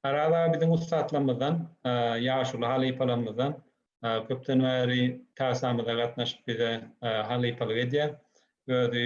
Araz aga biziň ussatlarymyzdan, ýaşuly halypalarymyzdan köpden bäri tasamyza gatnaşyp bize halypalyk edýär. Özi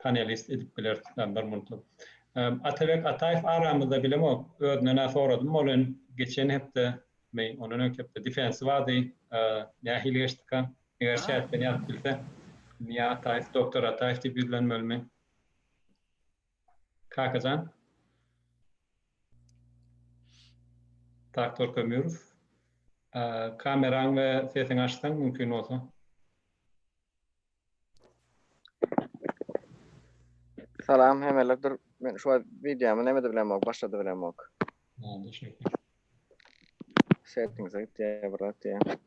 panelist edip biler tutan bir muntluk. Atabek Ataýew aramyzda bilemok. Özünden-ä soradym welin, geçen hepde mi, ondan öňki hepde defensi bardy. Nähili geçdika? Eger çäkden ýazyp bilse. Miýa Ataýew, Doktor Ataýew diýip ýüzlenmelimi? Kaka jan? Doktor Kömürow. Kameraň we sesiňi açsaň mümkin bolsa. Salam hemeler dur. Men şu wagt videomy nämede bilemok, başlady bilemok. Oldu şekil. Settings'e git diýýär, bir zat diýýär.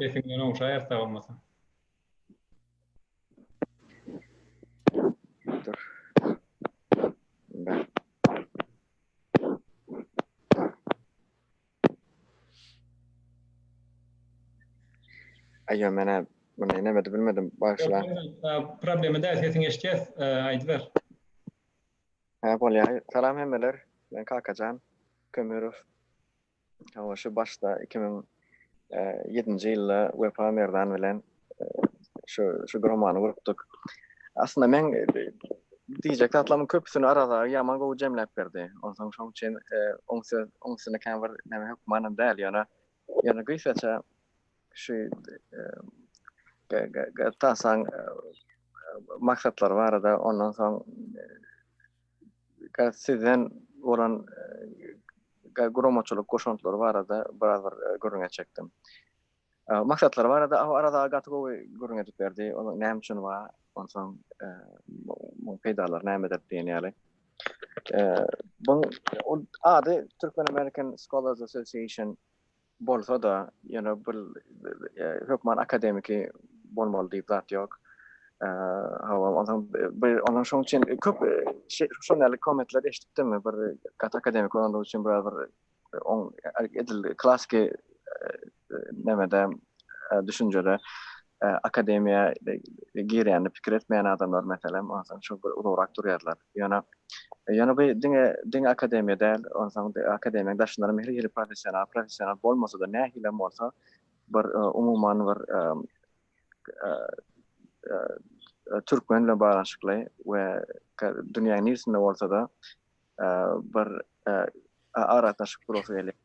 Sesiňden ogşaýar sag bolmasyn. Dur. Ben. Aýýo menä muny nemedi bilmedim bagyşla. Problema däl sesiňi eşitýäs aýdyber. Hä bolýar. Salam hemmeler. Men Kakajan Kömürow. Hawa şu başda iki müň ýedinji ýylda Wepa Merdan bilen şu şu romany gurupdyk. Aslynda men diýjek zatlaryň köpüsini Arazar ýaman gowy jemläp berdi. Onsoň şoň üçin oň söz oň üstüne kän bir näme hökmanam däl, ýöne ýöne gysgaça şu tasaň maksatlary barada ondan soň sizden bolan guramaçylyk goşantlary barada biraz bir gürrüňe çekdim. Maksatlary barada Arazag gaty gowy gürrüň edip berdi. Ol näme üçin bar? Onsoň muň peýdalary nämedir diýen ýaly. Buň ady Türkmen American Scholars Association bolsa-da, ýöne bir hökman akademiki bolmaly diýip zat ýok. Hawa, onsoň bir onuň şoň üçin köp şonäli kommentleri eşitdim. Bir gaty akademiki bolandygy üçin bir on edil klasiki e, e, nemede e, düşünjede akademiýa girýände pikir etmeýän adamlar meselem onsoň şu bir uzagrak durýarlar. Ýöne ýöne bu diňe diňe akademiýa däl, onsoň akademiýanyň daşynda hem hili professional, professional bolmasa-da nähili hem bolsa bir umuman bir türkmen bilen baglanyşykly we dünýäniň niresinde bolsa-da bir aragatnaşyk gurasyň gelýär,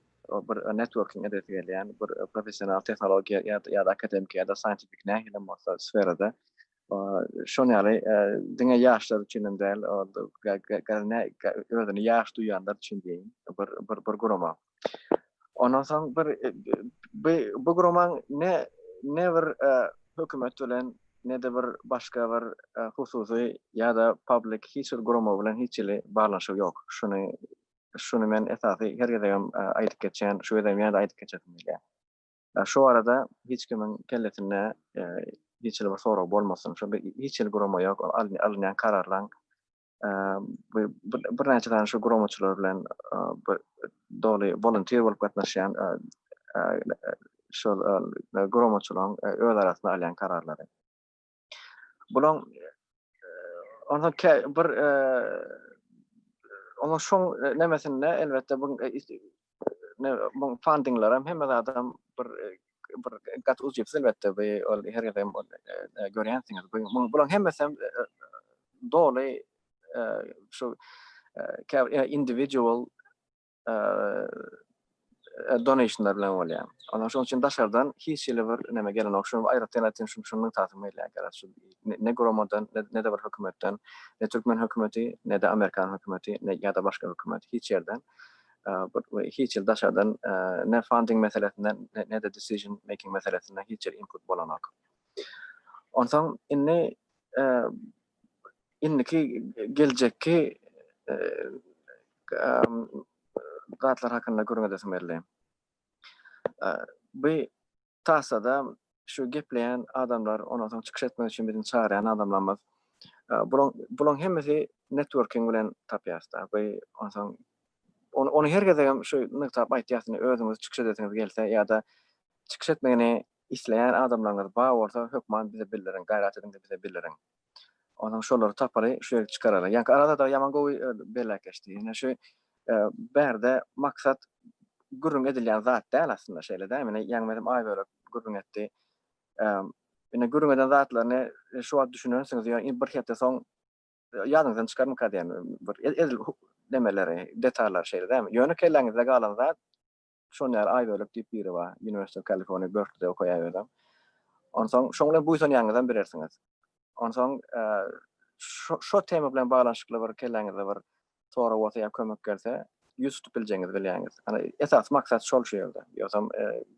bir networking edesi gelýär, bir professional tehnologiýa ýa-da akademiki ýa-da scientific nähili hem bolsa sferada şonuň ýaly diňe ýaşlar üçin hem däl, özüni ýaş duýýanlar üçin diýeýin, bir gurama. Ondan soň bir bu bu guramaň ne ne bir hökümet bilen ne de bir başga bir hususy ýa-da public hiç bir gurama bilen hiç hili baglanyşygy ýok. Şuny şuny men esasy her gezegem aýdyp geçýän, şu gezegem ýene-de aýdyp geçesim gelýär. Şu barada hiç kimiň kellesinde hiç hili bir sorag bolmasyn. Şunda hiç hili gurama ýok. Alynýan kararlaryň bir näçe sany şu guramaçylar bilen doly volunteer bolup gatnaşýan şol guramaçylaryň öz arasynda alýan kararlary. Bulaň onda bir onda şoň nemesinde elbetde bu bu fundingler hem hemme adam bir bir gat uzjypsyz elbetde bu ol her ýerde görýänsiňiz. Bu bularyň hemmesi hem doly şu individual donationlar bilen bolýar. Ondan şoň üçin daşardan hiç hili bir näme gelen ok. Şuny aýratyn aýtyn şu şuny nygtasym gelýär gara şu ne gromadan ne de bir hökümetden ne türkmen hökümeti ne de amerikan hökümeti ne ýa-da başga hökümet hiç ýerden bir hiç ýyl daşardan ne funding meselesinde ne de decision making meselesinde hiç ýyl input bolanok. Onsoň indi indiki geljekki zatlar hakynda gürňedesim geldi. Bu Tassada şu gepleýän adamlar, ondan soň çykyş etmek üçin biziň çagyrýan adamlarymyz. Bulaň, bulaň hemmesi networking bilen tapýasda. Bu ondan soň ony, ony her gezegem şu nygtap aýtýas, indi özüňiz çykyş edesiňiz gelse ýa-da çykyş etmegini isleýän adamlaryňyz bar bolsa, hökman bize bildiriň, gaýrat ediň-de bize bildiriň. Onuň şolary tapaly, şu ýigit çykaraly. Ýaňky arada-da ýaman gowy belläpleşdi. Ine şu bärde maksat gürrüň edilýän zat däl aslynda şeýle-dä. Ine Ýaňmezem Aýbölek gürrüň etdi. Ine gürrüň eden zatlaryny şu wagt düşünensiňiz ýöne indi bir hepde soň ýadyňyzdan çykarmyka diýen bir edil demeleri, detallary şeýle dämi. Ýöne kelläňizde galan zat Şony näre Aýbölek diýip biri bar. University of California Berkeleyde okaýar özem. Onsoň şoň bilen buýsanýaňyzam bilersiňiz. Onsoň şo tema bilen baglanyşykly bir kelläňizde bir sorag bolsa ýa kömek gelse, ýüz tutup biljegiňizi bilýäňiz. Ana esasy maksat şol şu ýerde. Ýogsam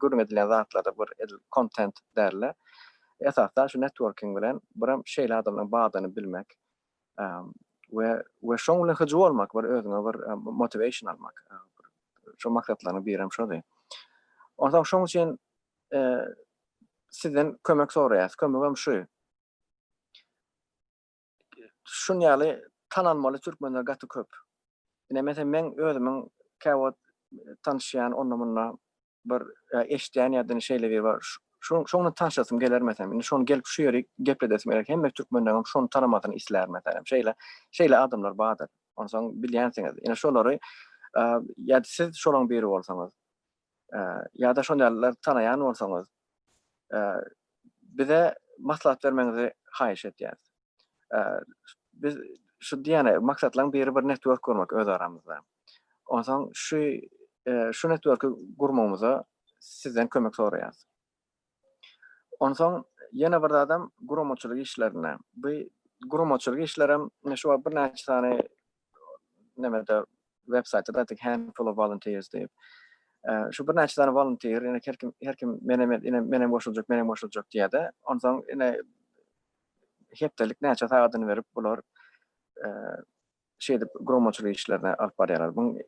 gürrüň edilen zatlarda bir edil kontent däl-de. Esasda şu networking bilen birem şeýle adamlaryň bardygyny bilmek. we we şoň bilen hyjuw almak bir özüňe bir motivation almak şo maksatlaryň birem şody onsoň şoň üçin sizden kömek soraýas kömegem şu şun ýaly tanalmaly türkmenler gaty köp ine men özümiň käwagt tanşýan onda munda bir eşdýän ýadyn şeýle bir bar. Şoň şoň bilen tanşasym geler meselem. Indi şony gelip şu ýeri gepledesim geler. Hemme türkmenleňem şony tanamasyny islär meselem. Şeýle şeýle adamlar bardyr. Onsoň bilýänsiňiz. Ýene şolary ýa-da siz şolaň biri bolsaňyz. Ýa-da şon ýalylar tanaýan bolsaňyz. Bize maslahat bermegiňizi haýyş edýäris. Biz şu diýýän maksatlaryň biri bir network gurmak öz aramyzda. Onsoň şu şu networki gurmagymyza sizden kömek soraýarys. Onsoň ýene bir zadam guramaçylyk işlerine. Bu guramaçylyk işler hem şu wagt birnäçe sany nemede web saýtda da tik handful of volunteers diýip. Şu birnäçe sany volunteer, ýene her kim her kim men hem men hem goşuljak, men hem goşuljak diýýärdi. Onsoň ýene hepdelik näçe sagadyny berip bular şeýdip guramaçylyk işlerini alyp barýarlar. Bu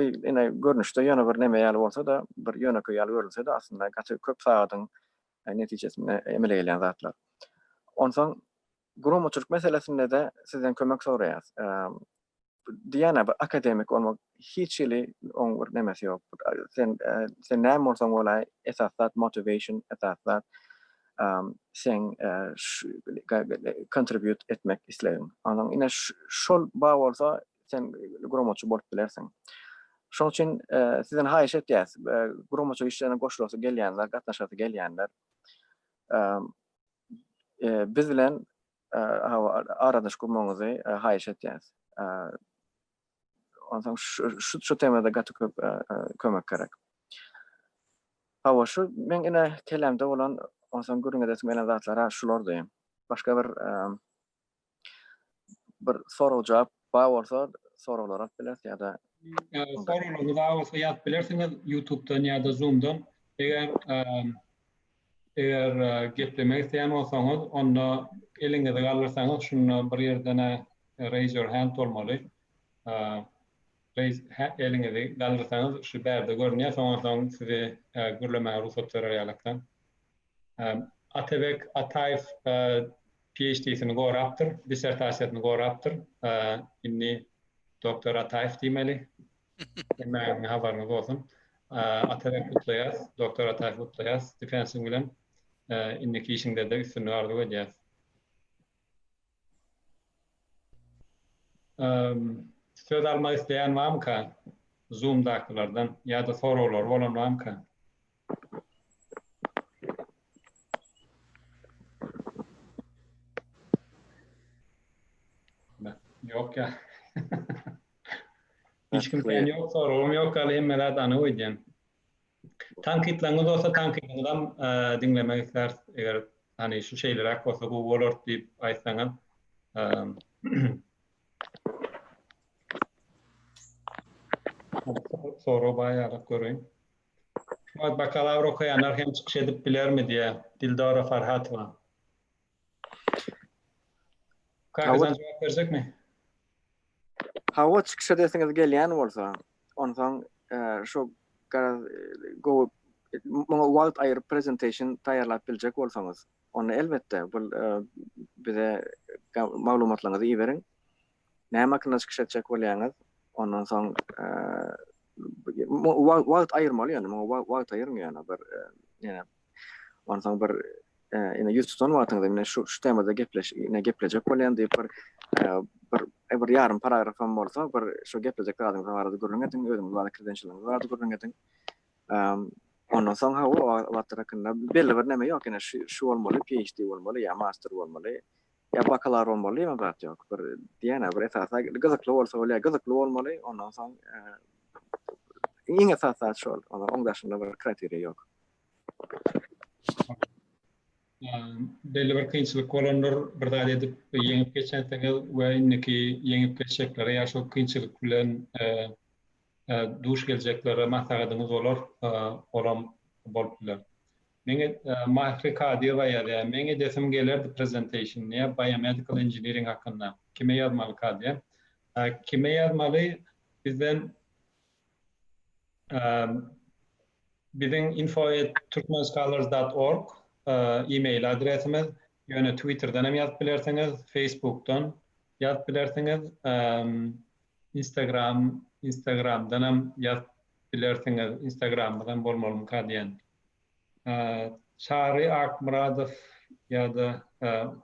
ine görnüşde ýöne bir neme ýaly bolsa-da, bir ýönekeý ýaly görünse-de, aslynda gaty köp sagadyň netijesinde emele gelýän zatlar. Onsoň guramaçylyk meselesinde-de sizden kömek soraýarys. Diýýän-ä bir akademik bolmak Hiç hili oň bir nemesi ýok. Sen sen näme bolsaň bolaý, esas zat motivation, esas zat seň kontribýut etmek islegiň. Onuň ine şol bar bolsa, sen guramaçy bolup bilersiň. Şoň üçin sizden haýyş etýäs, guramaçylyk işlerine goşulasy gelýänler, gatnaşasy gelýänler biz bilen aradaş gurmagyňyzy haýyş etýäs. Onsoň şu şu şu temada gaty köp e, e, kömek gerek. Hawa şu men ine kelamda bolan onsoň gürrüň edesim gelen zatlara şulardy. Başga bir e, bir sorag jogap bar bolsa soraglar alyp bileris ýa-da Soraglaryňyz bolsa ýazyp bilersiňiz YouTube-dan ýa-da Zoom-dan. Eger Eger geplemek isleýän bolsaňyz, onda eliňizi galdyrsaňyz, şunda bir ýerde-ne Raise your hand bolmaly. Raise ha eliňizi galdyrsaňyz, şu bärde görünýär, soňan soň sizi gürlemäge rugsat berer ýalykdan. Atabek Ataýew PHD-sini gorapdyr, dissertasiýasyny gorapdyr. Indi Doktor Ataýew diýmeli. Hemmäňize habaryňyz bolsun. Atabek gutlaýas, Doktor Ataýew gutlaýas Defensiň bilen. Indiki işiňdede üstünlik arzuw edýäs. Söz almak isleýän bamyka Zoomdakylardan ýa-da soraglary bolan bamyka? Ýok ýa. Hiç kim sen yok soragym yok gali hemme zat anyk öýdýän. Tankytlaryňyz bolsa tankydyňyz hem diňlemek isläris eger hani şu şeýleräk bolsa gowy bolardy diýip aýtsaňyz. Sorag baýarak göreýin. Şu wagt bakalawr okaýanlar hem çykyş edip bilermi diýýär Dildora Farhatowa. Kaka sen cevap verecek mi? Hava çykyş edesiňiz gelýän bolsa, onsoň şu garaz gowy muňa wagt aýyryp presentation taýýarlap biljek bolsaňyz, onda elbetde bu bize maglumatlaryňyzy iberiň. näme hakynda çykyş etjek bolýaňyz? Ondan soň wagt aýyrmaly ýöne muňa wagt aýyryn ýöne bir ýene ondan soň bir ýene ýüz tutan wagtyňyzda ýene şu şu temada gepleş ýene geplejek bolýan diýip bir bir bir ýarym paragraf hem bolsa bir şu geplejek zadyňyz barada gürrüň ediň özüňiz barada kirdençiligiňiz barada gürrüň ediň ondan soň ha o wagtlar hakynda belli bir näme ýok ýene şu şu bolmaly PhD bolmaly ýa master bolmaly Ýa bakalar bolmaly ýa zat ýok. Bir diýýän-ä bir esasy gyzykly bolsa bolýar. Gyzykly bolmaly, ondan soň iň esasy zat şol. Onuň daşynda bir kriteriýa ýok. Belli bir kynçylyk bolandyr, bir zat edip ýeňip geçensiňiz we indiki ýeňip geçjeklere ýa şol kynçylyk bilen duş geljeklere maslahatyňyz bolar, olam bolup biler. Meňe Mahri Kadyýewa ýazýar, Meň edesim gelerdi presentation ne biomedical engineering hakynda. Kime ýazmaly Kadyýe? Kime ýazmaly bizden biziň info at turkmenscholars dot org email adresimiz ýöne twitterden hem ýazyp bilersiňiz facebookdan ýazyp bilersiňiz instagram instagramdan hem ýazyp bilersiňiz instagramymyz hem bolmalymy Kadyýeň Çary Akmyradow ýa-da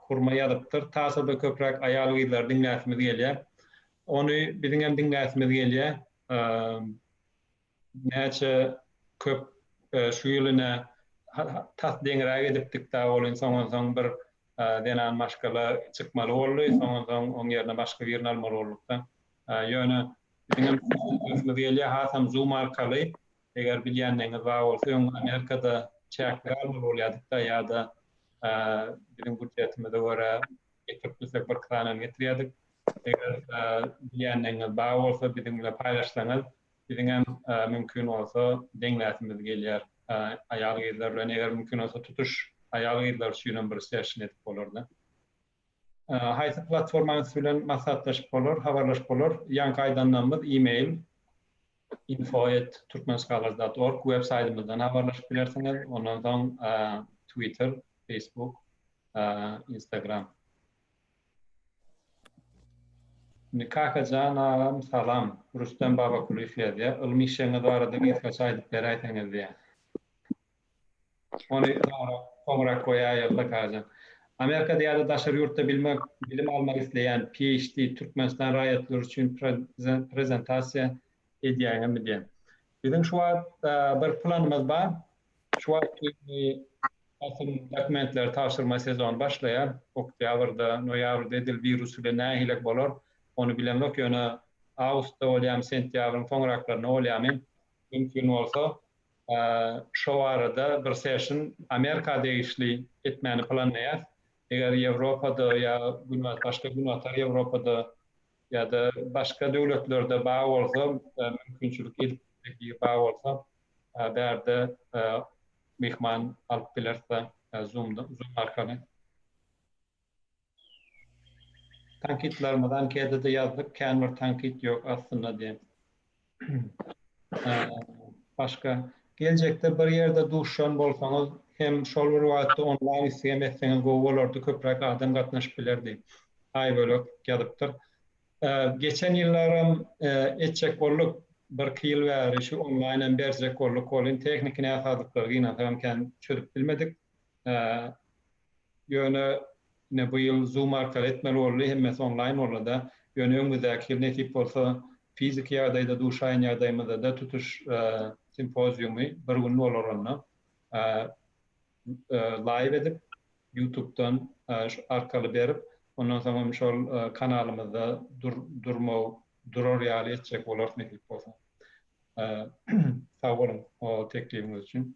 Hurma ýazypdyr. Tasa-da köpräk aýal-gyzlary diňläsimiz gelýär. Ony biziňem diňläsimiz gelýär. Näçe köp şu ýyl ine tas deňräk edipdik-dä, welin soňansoň bir zenan maşgala çykmaly boldy, soňansoň oň ýerine başga birini almaly bolduk-da. Ýöne biziňem diňläsimiz gelýär, hasam Zoom arkaly. Eger bilýänligiňiz bar bolsa öň Amerikada çäkli galmaly bolýadykda ýa-da biziň budjetimize görä getirip bilsek bir kranam getirýädik. Eger bilýänligiňiz bar bolsa biziň bilen paýlaşsaňyz biziňem mümkin bolsa deňläsimiz gelýär aýal-gyzlar bilen eger mümkin bolsa tutuş aýal-gyzlar üçinem bir session edip bolarda. Haýsy platformanyň siz bilen maslahatlaşyp bolar, habarlaşyp bolar? Ýaňky aýdanlarymyz e-mail, info at turkmenscholars dot org, web saýtymyzdan habarlaşyp bilersiňiz, ondan soň twitter, facebook, instagram. Indi Kakajan agam salam. Rustem Babakulyýew ýazýar. Ylmy işeňiz barada gysgaça aýdyp beräýseňiz diýýär. Ony soňrak goýaýyk zakaja. Amerikada ýa-da daşary ýurtda bilim almak isleýän, PHD, türkmenistan raýatlary üçin prezentasiýa edýäňizmi diýen. Biziň şu wagt bir planymyz bar. Şu wagt düýnki basym dokumentleri tabşyrma sezony başlaýar. Oktýabrda, noýabrda edil wirus bilen nähilek bolar, ony bilemzok. Ýöne awgustda bolýamy, sentýabryň soňraklarynda bolýamy, mümkin bolsa, şo arada bir seşn Amerika degişli etmäni planlaýas. Eger Ýewropada ýa Günbat başga Günbatar Ýewropada ýa-da başga döwletlerde bar bolsa mümkinçilik edip bilmegi bar bolsa bärde myhman alyp bileris-de Zoom-da Zoom arkaly. Tankytlarymyzy anketede ýazdyk, kän bir tankyt ýok aslynda diýen. Başga geljekde bir ýerde duşan bolsaňyz hem şol bir wagtda onlaýn isleg hem etseňiz gowy bolardy, köpräk adam gatnaşyp bilerdi. Aýbölek ýazypdyr. Geçen ýyllaram etjek bolduk, birki ýyl bäri şu onlaýn hem berjek bolduk, ol hem tehniki näsazlyklar gynansa hem kän çözüp bilmedik. Ýöne ine bu ýyl zoom arkaly etmeli boldy, hemmesi onlaýn boldy-da. Ýöne öňümizdäki ýyl nesip bolsa fiziki ýagdaýda duşaýan ýagdaýymyzda-da tutuş simpoziumy bir gün bolar onda laýw edip ýutubdan şu arkaly berip ondan soň hem şol kanalymyzda durmag durar ýaly etjek bolarys nesip bolsa. Sag boluň o teklibiňiz üçin.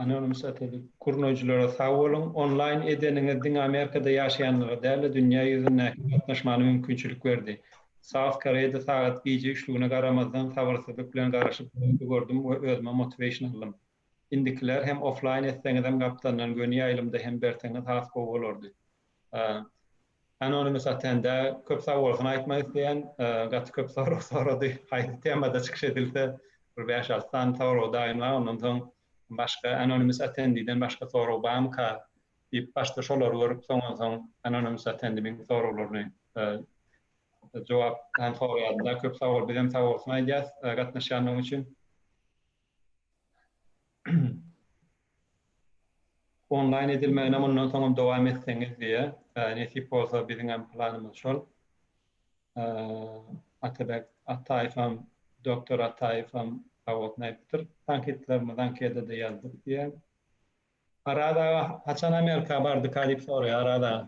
Anonim satelit. Gurnaýjylara sag boluň. Onlaýn edeniňiz diňe Amerikada ýaşaýanlara däl-de, dünýä ýüzündäki gatnaşmana mümkinçilik berdi. South Koreýada sagat gije üçlügine garamazdan sabyrsyzlyk bilen garaşyp duranyňyzy gördüm we özüme motivation aldym. Indikiler hem offlaýn etseňizem gapdalyndan göni ýaýlymda hem berseňiz has gowy bolardy. Anonymous atende köp sag bolsun aýtmak isleýän gaty köp sorag sorady haýsy temada çykyş edilse bir bäş alty sany sorag daýynlap ondan soň başga anonymous atendiden başga sorag barmyka diýip başda şolary görüp soňan soň anonymous atendimiň soraglaryny jogap hem soraýarynda köp sag bol bizem sag bolsun aýdýas gatnaşýandygyň üçin. Onlaýn edilmegine mundan soňam dowam etseňiz diýýär. Nesip bolsa biziňem planymyz şol. Atabek Ataýewem, doktor Ataýewem sag bolsun aýdypdyr. Tankytlarymyzy anketede ýazdyk diýýär. Araz aga haçan Amerika bardyka diýip soraýar Araz aga.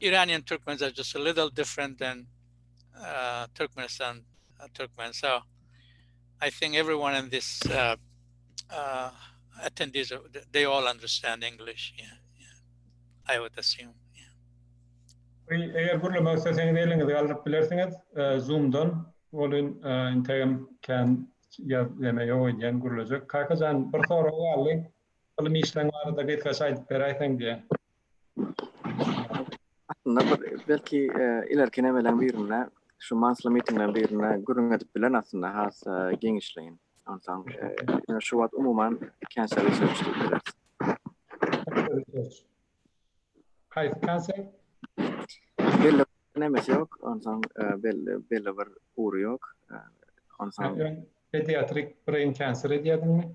Iranian Türkmen is just a little different than Türkmenistan Türkmen. So I think everyone in this uh, uh, attendees, they all understand English. Yeah, yeah. I would assume. Eger gürlemek isteseňiz eliňizi galdyryp bilersiňiz e, Zoom'dan. Olun e, integem kan yaz deme yok edýän gürlejek. Kakajan bir sorag galdy. Ilim işleň barada gysgaça aýdyp beräýseň diýe. Aslynda bir belki ilerki nemeleň birinde şu mansly mitingleň birinde gürrüň edip bilen aslynda has geňişleýin. Onsoň şu wagt umuman känçe research diýip bileris. Haýsy känçe? Belli nemesi ýok, onsoň belli belli bir ury ýok. Onsoň pediatrik brain cancer edýärdiňmi?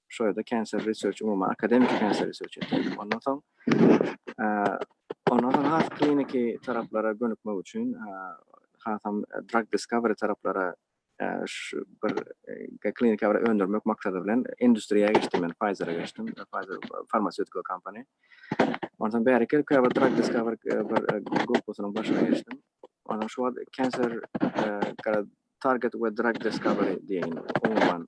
şu ýerde Cancer Research umuman akademiki Cancer Research etdim. Ondan soň ondan soň has kliniki taraplara gönükmek üçin hasam drug discovery taraplara şu bir kliniki bir öndürmek maksady bilen industriýa geçdim men Pfizer-e geçdim. Pfizer farmasewtika kompaniýa. Ondan soň bäri gelip bir drug discovery bir gruppasynyň başyna geçdim. Ondan şu wagt Cancer target we drug discovery diýen umuman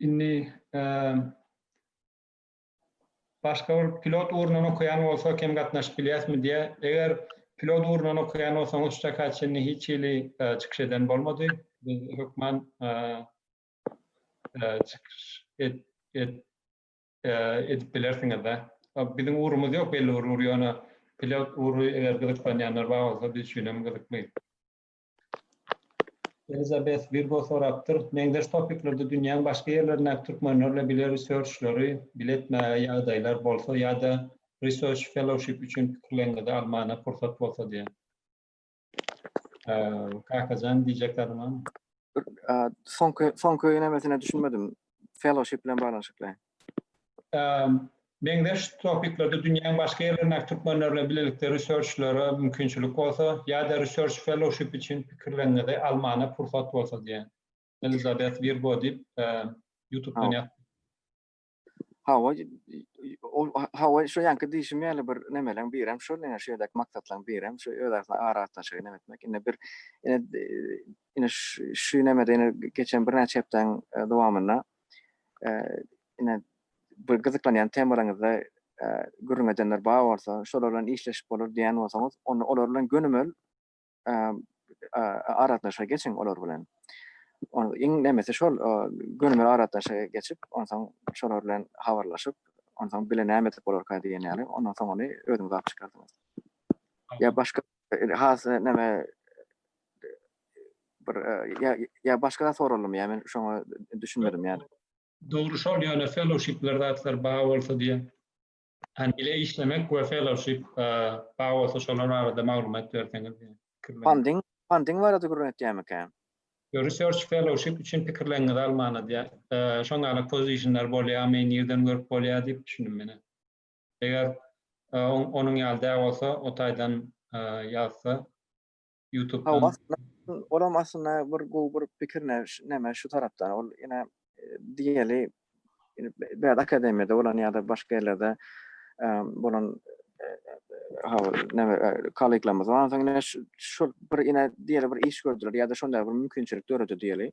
Indi başga bir pilot ugrundan okaýan bolsa kem gatnaşyp bilýäsmi diýýär. Eger pilot ugrundan okaýan bolsaňyz şu çaka çenli hiç hili çykyş eden bolmady. Biz hökman çykyş edip bilersiňiz de. Biziň ugrumyz ýok belli bir ugry ýöne pilot ugry eger gyzyklanýanlar bar bolsa biz üçin hem gyzykly. Elizabeth Virgo sorapdyr, meňzeş topiklerde dünýäň başga ýerlerindäki türkmenlerle bile researchleri bile etmäge ýagdaýlar bolsa ýa-da research fellowship üçin pikirleriňizi almana pursat bolsa diýen. Kakajan diýjek zadyň barmy? Soňky soňky nemesine düşünmedim. Fellowship bilen baglanyşykly. meňzeş topiklerde dünýäň başga ýerlerindäki türkmenler bilen bilelikde research-lere mümkinçilik bolsa, ýa-da research fellowship üçin pikirleriňizi almana pursat bolsa diýen. Elizabeth Virgo diýip, ýutubdan ýaz. Hawa, ol, hawa, şu ýanky diýşim ýaly bir nemeleň birem şol, ine, şu ýerdäki maksatlaryň birem şu öz arasynda aragatnaşygy neme etmek. Ine, bir, ine, ine, şu, şu nemede, ine, geçen birnäçe hepdäniň dowamynda, ine bir gyzyklanýan temalaryňyzda gürrüň edenler bar bolsa, şolar bilen işleşip bolar diýen bolsaňyz, onda olar bilen gönümel aragatnaşyga geçiň olar bilen. Iň nemesi şol gönümel aragatnaşyga geçip, onsoň şolar bilen habarlaşyp, onsoň bile näme edip bolarka diýen ýaly, ondan soň ony özüňiz alyp çykarsyňyz. Ýa başga Indi has näme bir ýa ýa başga zat soraldymy ýa men şoňa düşünmedim ýa. Dogry şol ýöne fellowshipler zatlar bar bolsa diýýän. Hani bile işlemek we fellowship bar bolsa şolar barada maglumat berseňiz diýýän. Funding funding barada gürrüň etýärmikä? Ýok research fellowship üçin pikirleriňizi almana diýýär. Şoňa gala pozisiýnler bolýamy, nirden görüp bolýar diýip düşündim menä. Eger onuň ýaly däl bolsa o taýdan ýazsa ýutubdan. Olam aslynda bir gowy bir pikir näme şu tarapdan ol ine diýeli bad akademiýada bolan ýa-da başga ýerlerde bolan kolleglarymyz bar onsoň ine şol bir ine diýeli bir iş gördüler ýa-da şonda bir mümkinçilik döredi diýeli.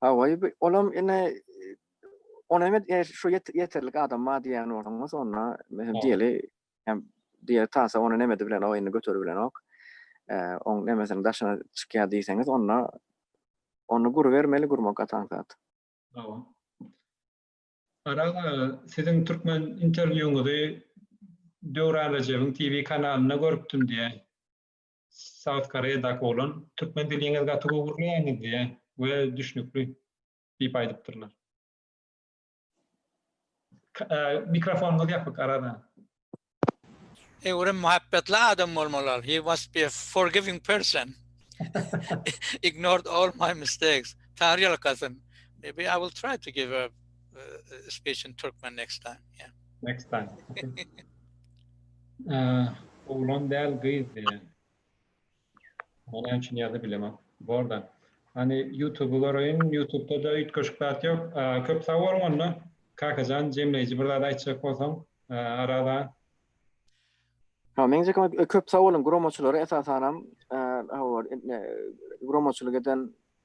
Hawa, olam ine Ony hem e, şu ýeterlik adam bar diýýän bolsaň, onda mehem diýeli hem diýe tasa ony nemedi bilen o indi göteri bilen ok. Oň nemesini daşyna çykýar diýseňiz, onda ony guru bermeli gurmak gatan zat. Tamam. Aral siziň türkmen interwýuňyzy Döwran Rejebiň TV kanalynda görüpdim diýýär. South Koreadaky oglan türkmen diliňiz gaty gowy gürleýäňizdi we düşnükli diýip aýdypdyrlar. Mikrofonyňyz ýapyk arada. Öwrüm muhabbetli adam bolmaly ol. He was be forgiving person. Ignored all my mistakes. Taňryýalkasyn. Maybe I will try to give a speech in Turkmen next time. Next time. Eee, oğlan däl gyz diýen. Ony hem şun ýerde bilemem. Borda. Hani YouTube-y göreýin, YouTube-da-da üýtgeşik zat ýok. Eee, köp sag boluň onda. Kakajan, jemleýji bir zat aýtjak bolsaň, eee, arada. Ha, meň jekem köp sag boluň, guromaçylara esasanam, eee, howar, eee, guromaçylyk eden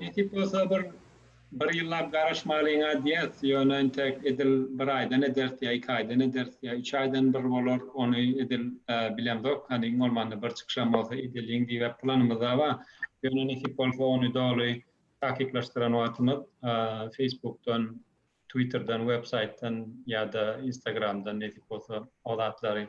Nesip bolsa bir bir ýyllap garaşmalyňa diýeris, ýöne entek edil bir aýdan ederis ýa iki aýdan ederis ýa üç aýdan bir bolar, ony edil bilemzok, hany iň bolmanda bir çykyşam bolsa edeliň diýibem planymyzda bar. Ýöne nesip bolsa ony doly takyklaşdyran wagtymyz Facebookdan, Twitterden, websaýtdan ýa-da Instagramdan nesip bolsa o zatlary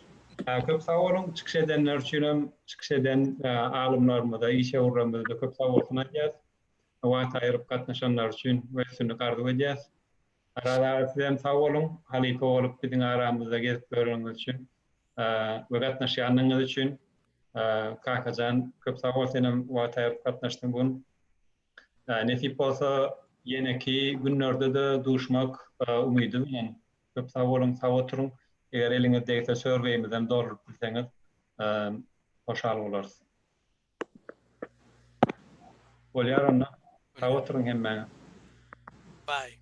Köp sag boluň, çykyş edenler üçin hem, çykyş eden alymlarymyza, işewürlerimize-de köp sag bolsun aýdýas. Wagt aýryp gatnaşanlary üçin we üstünlik arzuw edýäs. Araz aga siz hem sag boluň, halypa bolup biziň aramyzda gezip ýöreniňiz üçin we gatnaşýanyňyz üçin. Kakajan köp sag bol sen hem wagt aýryp gatnaşdyň bu gün. Nesip bolsa ýeneki günlerde-de duşmak umydy bilen. Köp sag boluň, sag oturyň. Eger eliňiz degse sörgäýimizem dolduryp bilseňiz hoşal bolarys. Bolýar onda. Sag oturyň hemmäňiz. Bye.